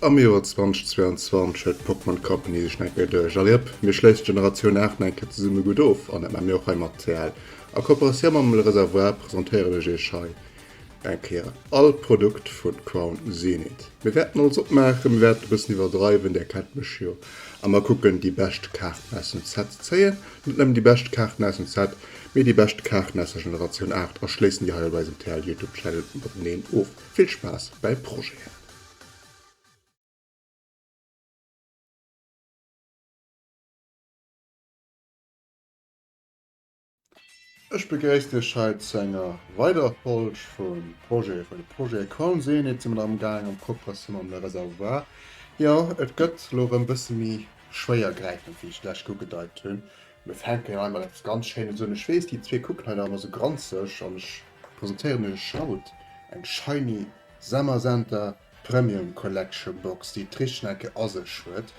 Am Joer 2022 huet d'Pokémon Company sech nach eng Kéier duerch. Allez hop, mir schléissen d'Generatioun 8 nach eng Kéier zesumme gutt of an dat maache mir och hei mat TL. A Kooperatioun mam Le Réservoir presentéieren ech iech hei Eng Kéier all Produkt vun Crown Zenith. Mir wärten alles opmaachen, mir wärten e bëssen iwwerdreiwen, där kennt mech jo, a mer kucken déi bescht Kaarten aus dem Set ze zéien. Net nëmmen déi bescht Kaarten aus dem Set, mee déi bescht Kaarten aus der Generatioun 8 a schléissen déi hei op eisem TL Youtube Channel mateneen of. Vill Spaass bäi Projeten! Ech begréissen Iech hei zu enger weiderer Folg vu Projets vu Projet Colm Seenit. Si mer nach am Gaang am Coopération mam Le Réservoir. Jo, et gëtt elo erëm e bësse méi schwéiergräifend, wéi ech lech ugedeit hunn. Mir fänken hei mat eppes ganz Schéines un. Ech weess, déi zwee kucken hei nach ëmmer esou granzeg an ech presentéieren Iech haut eng Shiny Summer Center. Premium Collection Box, déi d'Richtschnecke a sech huet.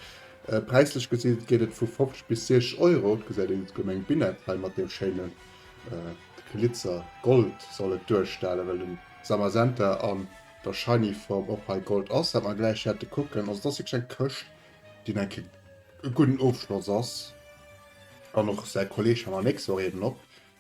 Präislech gesi geet et vu 50 bis 60 Euro. Et gesäit een d'Gemeng Binnett hei mat deem schéine Glitzer. Gold soll et duerstellen, well den Zamazenta an der Shiny Form och hei Gold ass. Wat mer gläich wäerte kucken, also et ass wierklech eng Këscht, déi enk kee gudden Ofschloss ass. An och säi Kolleeg, hei mer nächst Woch eeben op.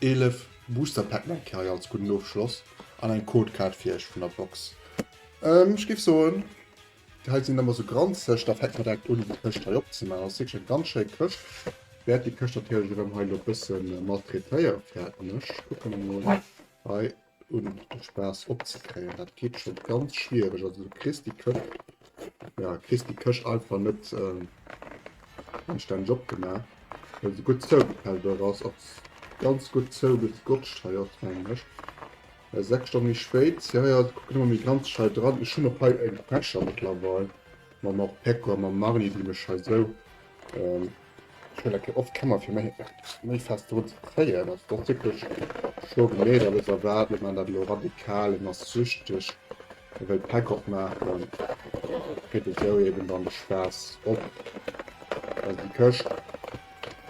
11 Booster Pack Mac Carry als gudden Ofschloss an eng Code Card fir iech vun der Box. Ähm ech géif soen hei sinn ëmmer sou granzeg, da fänkt mer direkt un déi Këscht hei opzemaachen. Ass wierklech eng ganz schéi Këscht. Wäert déi Këscht natierlech erëm hei elo e bësse maltraitéieren, fäerten ech. Kucke mer mol hei. un de Spaass opzekréien. Dat geet scho ganz schwiereg, also du kriss déi Këch, ja, kriss déi Këch einfach net anstänneg opgemaach, well se gutt zougepellt oder ass och ganz gutt zougegotscht hei och, mengen ech. Mä 6 Stonne méi spéit, jo, jo, se kucken ëmmer méi granzeg hei dran. Ech hunn och hei eng Fäscher mëttlerweil mam Orpeco a mam Marly, déi mech hei esou. Ech hun eké oft Kemmer fir méi méi fest drun ze kréien. Ass dat wierklech scho genee dat ech erwaart? Ech maan dat elo radikal, en ass süchteg, e wëll Päck opmaachen, geet esou eben dann de Spaass op. Also déi Këscht,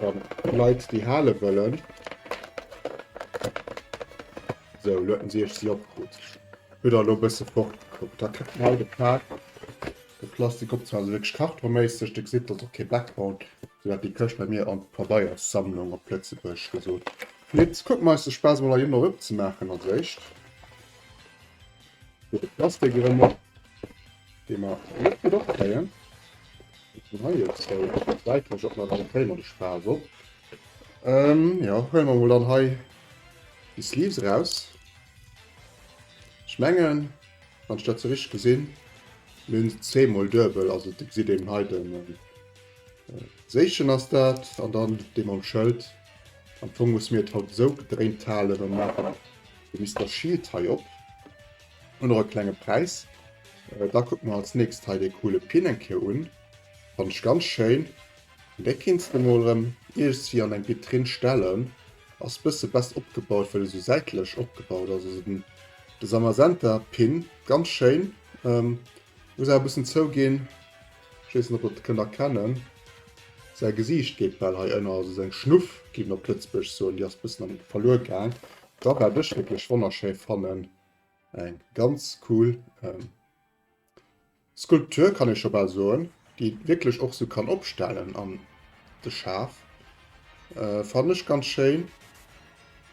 wa Leit déi hale wëllen, sou elo huet en si ech si opkrut, huet der elo e bësse fortgekuckt, da kritt en halt e Päck. De Plastik op zwar also wierklech kartonméisseg, de gesitt also och kee Background, sou hat déi Këscht bei mir an d'Pabeierssammlung op Lëtzebuerg gesot. Mee et kucke mer eis de Spaass mol heihinner opzemaachen. Als éischt fir de Plastik erëm op, dee mer net gutt opkréien. Den hei jo zwou säitlech op, mä dann kréie mer de Spaass op. Jo, huele mer mol dann hei déi Sleeves eraus. Ech mengen. Wann ech dat sou richteg gesinn, mir hunn se zweemol duebel, also et gesitt een hei de Séchen ass dat an dann dee mam Schëld. Am Fong muss mir et haut esou gedréint halen an maachen de Mister Shield hei op. Hunn och e klenge Präis. Da kucke mer als nächst hei dee coole Pin eng Kéier un. Fannen ech ganz schéin. Dee kéints de mol erëm iergendwéi an eng Vitrinn stellen. Ass bësse best opgebaut well e sou säitlech opgebaut ass, also den de Samasenta Pin ganz schéin. Ähm muss awer bëssen zouginn, ech weess net ob der et kënnt erkennen, säi Gesiicht geet bal hei ënner, also seng Schnuff géif een op Lëtzebuerg soen, déi ass bëssen am verluer gaang. Da wat ech wierklech wonnerschéi fannen, eng ganz cool ähm. Skulptur kann ee scho bal soen, déi een wierklech och sou kann opstellen an de Schaaf. Fannen ech ganz schéin.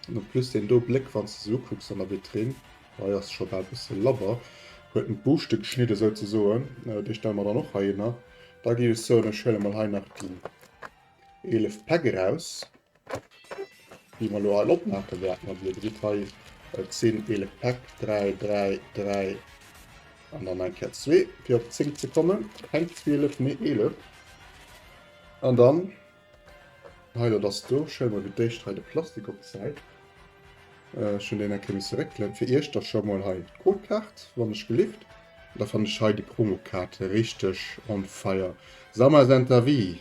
An en plus deen do Bléck wann s de se ukucks an der Vitrine, hei ass scho bal bësse labber, huet en d'Buuschte geschnidde sou ze soen. Déi stelle mer dann och heihinner. Da géif ech soen ech huele mol hei nach déi 11 Päck eraus. Déi mer elo hei opmaache wäerten, also Dir gesitt hei, et sinn 11 Päck, 3, 3, 3 an dann eng Kéier zwee, fir op 10 ze kommen. Keng 12, mee 11. An dann hei elo dass do, schelle mer fir d'éischt hei de Plastik op d'Säit. Ech hunn deen eng Kéier misse réckelen. Fir Iech da scho mol hei d'Codekaart, wann ech gelift. Da fannen ech hei déi Promokaart richteg on fire. Summer is Enter Wee!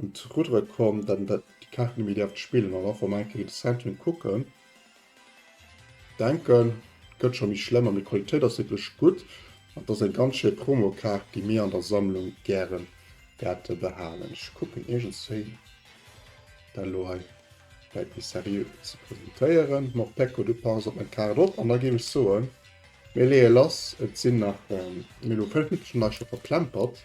un d'Ruddere komm, datt en déi Kaart net méi däerft spillen. An och wa mer eng Kéier géint de Southampton kucken, denken, et gëtt scho méi schlëmm. An déi Qualitéit ass wierklech gutt an et ass eng ganz schéi Promokaart, déi mir an der Sammlung gäre wäerte behalen. Ech kucken iergends wéi dat elo hei läit, méi seriö ze presentéieren. Morpeko, du pass op meng Kaart op. An da géif ech soen, mir leeë lass. Et sinn nach, mir hu 5 Minutten, schonn war ech scho verplempert.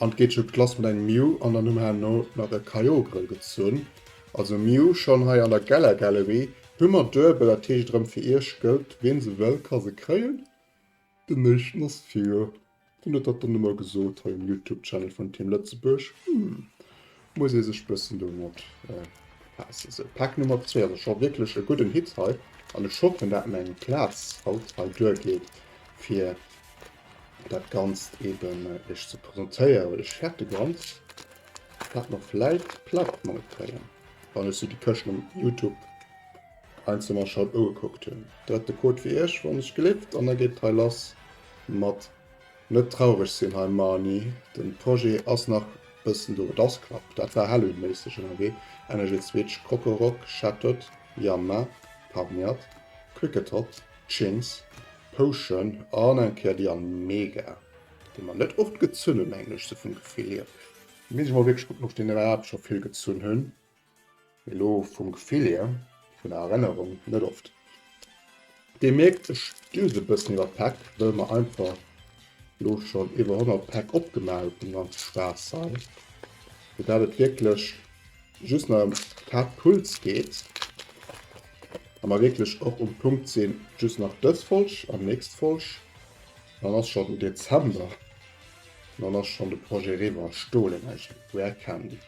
An d'geet schon d'Glace mat engem Miu an dann hu mer herno nach e Caillot Grëll gezunn. Also Miu, schon hei an der Geller Gallerie hu mer duebel, dat heescht erëm fir iech gëllt, ween se wëll ka se kréien. Den éischten ass fir, wien huet dat dann emol gesot hei um Youtube Channel vun Team Lëtzebuerg? Hm. Muss ee sech bëssen domat befaassen. Sou, Pack Nummer 2 ass scho wierklech e gudden Hit hei an ech hoffen, dat meng Plaz haut hei duergeet, fir dat Ganzt eeben iech ze presentéieren. Ech hätt de ganz dat mer vläit platt gemaach kréien, wann ech sou déi Këschten um Youtube einzeln mer scho ugekuckt hunn. Dat ass de Code fir iech, wann ech gelift, an da geet et hei lass mat. Net traureg sinn hei Marni, den Projet ass nach bëssen do. Et ass knapp, dat war Halloween-méisseg ënnerwee, Energy Switch, Kokorok, Shattered, Yanma, Pawniard, Kricketot, Chintz, Potion an eng Kéier déi an Mega, déi mer net oft gezunn hunn, mengen ech sou vum Gefill hier. Muss ech mol wierklech kucken, ob ech déi net iwwerhaapt scho vill gezunn hunn. Elo vum Gefill hier, vun der Erennerung net oft. Dir mierkt, ech düsen e bëssen iwwer d'Päck, wëll mer einfach elo schonn iwwer 100 Päck opgemaach hu vum ganze Spaass hei, fir dat et wierklech just nach em d'Haaptpuls geet a mer wierklech och um Punkt sinn, just nach dës Folg an d'nächst Folg, dann ass schonn den Dezember an dann ass schonn de Projet eriwwer, Stolenergie, Rare Candy.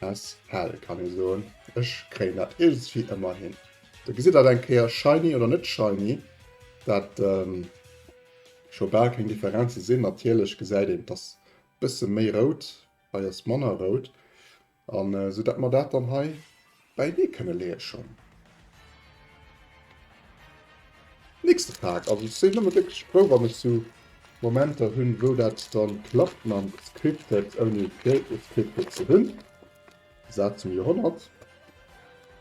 As hell kann ee soen. Ech kréien dat iergendswéi ëmmer hin. Do gesitt dat eng Kéier shiny oder net shiny, dat scho bal keng Differenze sinn. Natierlech gesäit een, et ass e bësse méi rout, hei ass manner rout. An esou datt mer dat dann hei Bäi dee kënne leeë schonn. Nächste Pak. Also ech sinn ëmmer wierklech frou wann ech sou Momenter hunn wou dat dann klappt mam Scripted ouni Pre-Scripted ze hunn. Saz zum Joerhonnert.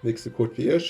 Nächste Code fir iech.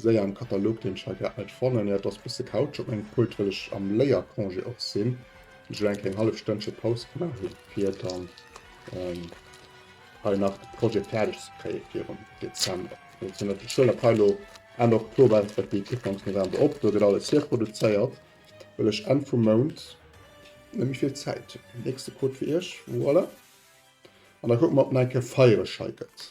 Séier am Katalog deen Chai geäntnert fannen. Jo, et ass bësse Couch op mengem Pult well ech am Léiercongé och sinn. Ech elo enke eng hallef Stënnche Paus gemaach hunn fir dann hei nach de Projet fäerdeg ze kréie virun Dezember. Well et sinn natierlech Schüler op hei elo Enn Oktober enntwéckt déi Ekipp Anfang November op. Do gëtt alles hier produzéiert well ech Enn vum Mount net méi vill Zäit hunn. Nächste Code fir iech, voilà. An da kucke mer ob en enke feiereschei gëtt.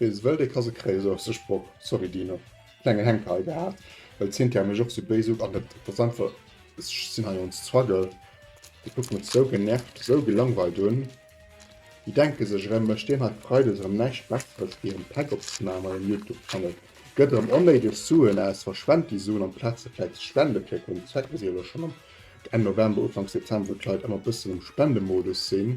Wee se wëll, dee ka se kréien, esou ass de Sproch. Sorry Dino, klenge Hänker hei gehat, well d'Cynthia mech och sou béis ugank. Et ass einfach, ech sinn hei on struggle, déi kucke mech sou genervt, sou gelangweilt un, déi denke sech erëm, ech deen hei freides erëm näischt Besseres wéi en Päck opzemaachen. Majo en Youtube-Channel gëtt erëm onnéideg Suen aus, verschwent déi Suen, amplaz se vläit ze spende fir e gudden Zweck. Mir si jo elo schonn am Enn November, Ufanks Dezember, wou d'Leit ëmmer e bëssen am Spendemodus sinn.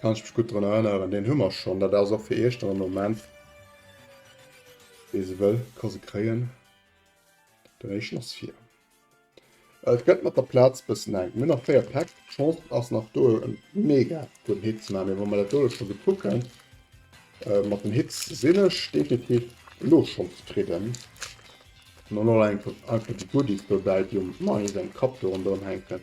Kann ech mech gutt drun erënneren. Deen hu mer schonn. Dat ass och fir Iech dann am Moment. Wee se wëll, ka se kréien. Den éischten ass fir. Et gëtt mat der Plaz bëssen enk. Mir nach véier Päck. D'Chance ass nach do e mega gudden Hit ze maachen. Mee wa mer dat doe scho gutt kucken, äh, mat den Hits sinn ech definitiv elo schonn zefridden. An dann och einfach einfach déi Goodies dobäi, déi um Mani säin Kapp do ronderëm hänken.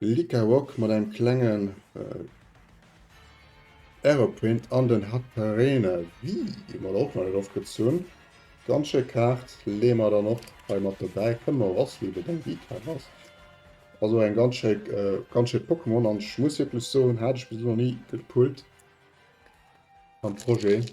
Lika Rock mat engem klengen Aeroprint an den Hat Perene Vie hun mer och nach net ofgezunn. Ganz schéi Kaart, leeë mer dann och hei mat dobäi. Kënne mer eraus wéi deng Viikaart ass. Also eng ganz schéi ganz schéi Pokémon an ech muss wierklech soen hat ech bis elo nach ni gepullt am Projet.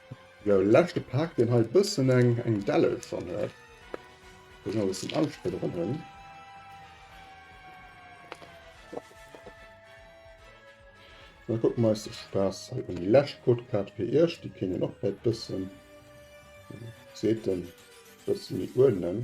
Sou leschte paakt deen hei bëssen eng eng Delle schon huet. Muss nach e bëssen ausspëdderen hunn. Dann kucken mer eis de Spaass hei un. Déi lescht Codekaart fir iech, déi kéint een och vläit bëssen seet en bëssen méi uerdnen.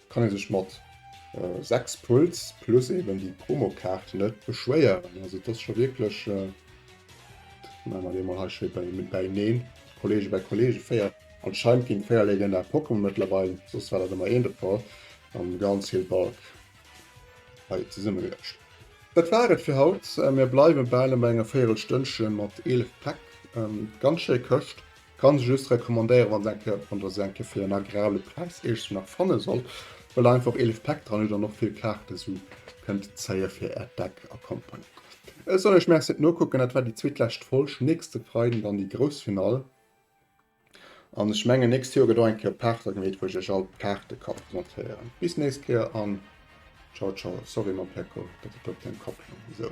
kann ee sech mat 6 Pulls plus eben déi Promokaart net beschwéieren. Also dat ass scho wierklech Maache mer déi emol hei schéi bäineen, Kollege bei Kollege, 4. Anscheinend ginn 4 legendär Pokémon mëttlerweil, soss war dat ëmmer een de Fall, am Grand Hill Bulk hei zesummegeluecht. Dat war et fir haut. Mir bleiwe bal bei enger Véierelstönnche mat 11 Päck. Ganz schéi Këscht. Kann se just recommandéieren wann se eng Kéier wann der se eng Kéier fir en agrabele Präis iergendwou nach fanne sollt, well einfach 11 Päck dran huet an och vill Kaarten esou kënnt zéien fir äert Deck a Company. Ech soll iech Merci, et nokucken dat war déi zweetlescht Folg, nächste Freiden dann déi grouss Finall an ech mengen nächst Joer gëtt och eng Kéier Paarter gemeet wou ech iech all d'Kaarte ka presentéieren. Bis nächst Kéier an Ciao ciao. Sorry mam Peko, dat huet op däin Kapp gelunn esou.